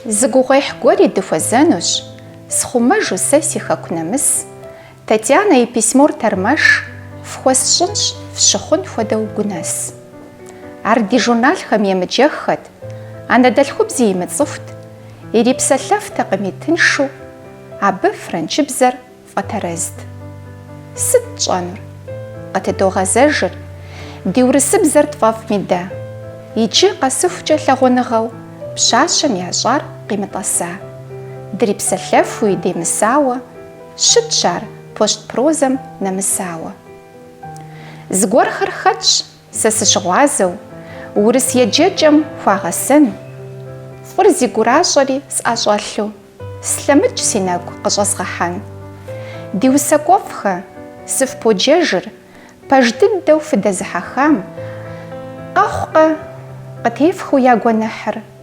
Зы гугъуехь гуэри дыхуэзэнущ, схъумэжу сэ си хэку нэмыс. Татьянэ и письмор тэрмэш фхуэсщӏынщ фщыхъун хуэдэу гунэс. Ар ди журналхэм емыджэххэт, анэдэлъхубзи имыцӏыхут, ирипсэлъэфтэкъыми тыншу, абы франчыбзэр Фӏэтэрэзт. Сыт тщӏэнур? Къытыдогъэзэжыр, ди урысыбзэр тфӏэфӏми дэ. Иджы къэсыхукӏэ лъагъуныгъэу пщащэм ящӏар къимытӏэса. Дрипсэлъэфуи демысауэ, щытщ ар пощт прозэм нэмысауэ. Зыгуэрхэр хэтщ, Сэ сыщыгъуазэу, урыс еджэкӏэм хуагъэсэн, фӏыр зи гуращэри сӏэщӏэлъу, слъэмыкӏ си нэгу къыщӏэзгъэхьэн. Ди усакӏуэфӏхэ, сыфподжэжыр, пэж дыдэу фыдэзыхьэхам, къэхъукъэ, къытефхыу я гуэныхьыр.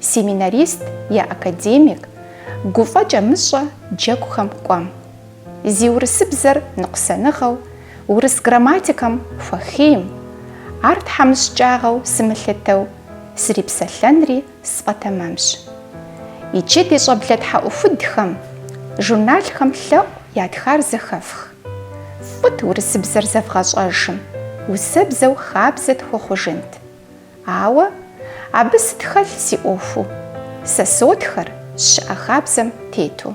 Семинарист е академик, гуфӏэкӏэ мыщӏэ джэгухэм кӏуэм. Зи урысыбзэр ныкъусаныгъэу, урыс грамматикэм хуэхейм. Ар тхьэмыщкӏагъэу сымылъытэу, срипсэлъэнри сфӏэтэмэмщ. Иджы ди щӏэблэ тхьэӏухудхэм, журналхэм лъэӏу ятхар зэхэфх. Фӏыт урысыбзэр зэвгъэщӏэжым, усэбзэу хабзэ тхуэхъужынт. Ауэ абы сыт хэлъ си ӏуэхуу. Сэ сотхэр, щыӏэ хабзэм тету.